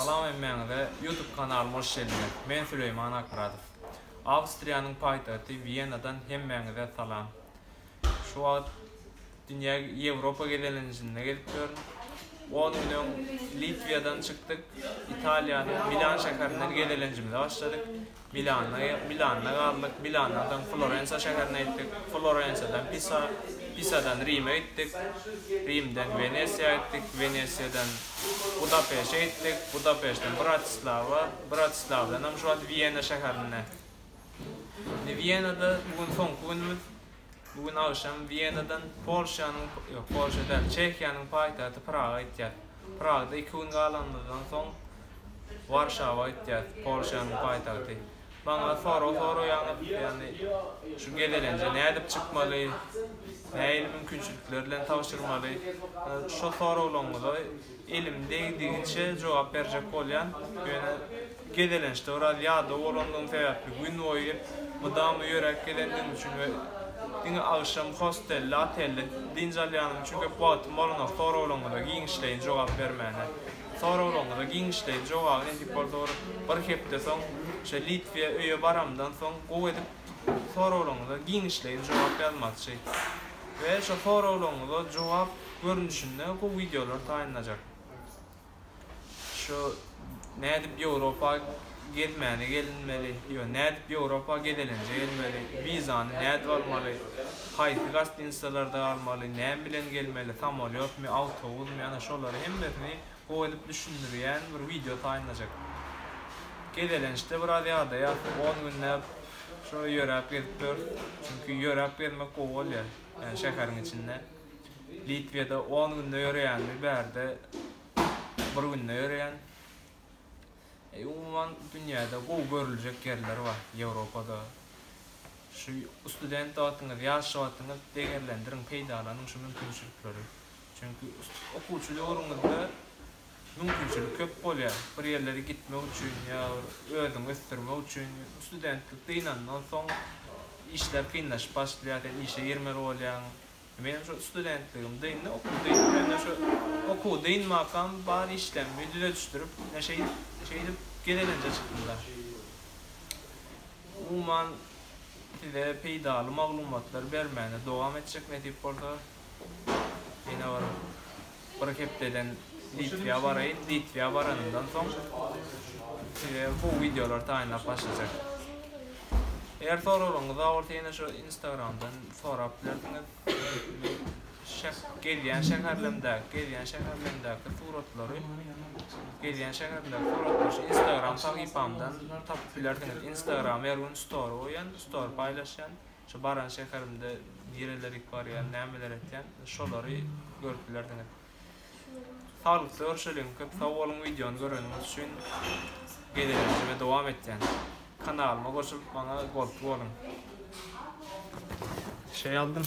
Salam hemmäňize YouTube kanalyma hoş geldiňiz. Men Süleýman Akmyradow. Awstriýanyň paýtagty Wiýenadan hemmäňize salam. Şu wagt dünýä Ýewropa gezelenjinde gezip ýörün. On gün öň Litwiýadan çykdyk, Italiýanyň Milan şäherinden gezelenjimize başladyk. Milanda galdyk, Milandan soň Florensiýa şäherine gitdik, Florensiýadan Pisa, Pisadan Rime gitdik, Rimden Wenesiýa gitdik, Wenesiýadan Budapeşe gitdik, Budapeşden Bratislawa, Bratislawadan hem şu wagt Wiena şäherine. Indi Wienada bu gün soňky günümiz, Bu gün agşam Wiýenadan Polşanyň, ýok, Polşa däl, Çehiýanyň paýtagty Praga gitýäs. Pragda iki gün galanymyzdan soň Warşawa gitýäs, Polşanyň paýtagty. Maňa sorag soraýaňyz, ýagny şu gezelenje nädip çykmaly, nähili mümkinçilikler bilen tabşyrmaly? Şol soraglaryňyza Elim degdigiçe jogap berjek bolýan, ýöne gezelençde biraz ýadaw bolandygym sebäpli gün boýy mydama ýöräp gelendigim üçin we diňe agşam hostelde, otelde dynç alýanym üçin köp wagtym bolanok soraglaryňyza giňişleýin jogap bermäne. Soraglaryňyza giňişleýin jogaby nesip bolsa bir bir hepde soň şo Litwiýa öýe baramdan soň gowy edip soraglaryňyza giňişleýin jogap ýazmakçy. We şo soraglaryňyza jogap görnüşinde bu wideolar taýynlajak. Şu nädip Ýewropa gezmäne gelinmeli, ýo nädip Ýewropa gezelenje gelmeli, wizany nädip almaly, haýsy gastinisalarda galmaly, näme bilen gelmeli, samolýotmy, awtobusmy, ana şolary hemmesini gowy edip düşündirýän bir wideo taýynlajak. Gezelençde biraz ýadaýas, on günläp şo ýöräp gezip ýörüs, çünki ýöräp gezmek gowy bolýar, ýagny şäheriň içinde. Litwede on günde ýöreýän bir bärde bir günde ýöreýän. E umuman dünýäde gowy görüljek ýerler bar Ýewropada. Şu student wagtyňyz, ýaş wagtyňyz degerlendiriň, peýdalanyň şu mümkinçilikleri. Çünki okuwçy döwrüňizde mümkinçilik köp bolýar. Bir ýerlere gitmek üçin ýa bir özüňi ösdürmek üçin. Studentlik dynandan soň işler kynlaşyp başlaýar, sen işe girmeli bolýaň. Menem şo studentligim dyndy, okuw dyndy. Mende şo okuw dynmakam bar işlerimi düzedişdirip, ne şeýdip, şeýdip gezelenje çykdym-da. Umuman, size peýdaly maglumatlar bermäne dowam etjek nesip bolsa. Ýene bir. Bir hepdeden Litwä baraýyn. Litwä baranymdan soň size gowy wideolar taýynlap başlajak. Eger soraglaryňyz bar bolsa ýene şu Instagramdan sorap bilersiňiz. Şeh gelýän şäherlerimdäki, gelýän şäherlerimdäki suratlary, gelýän şäherleriň suratlary şu Instagram sahypamdan tapyp bilersiňiz. Instagram her gün story goýýan, story paýlaşýan. Şu baran şäherimde nireler ýyk barýan, nämeler etýän, şolary görüp bilersiňiz. Saglykda görşeliň, köp sag boluň wideony göreniňiz üçin. Gezelenjime dowam etýän. Kanalyma goşulyp maňa goltgy boluň. Şeý aldym.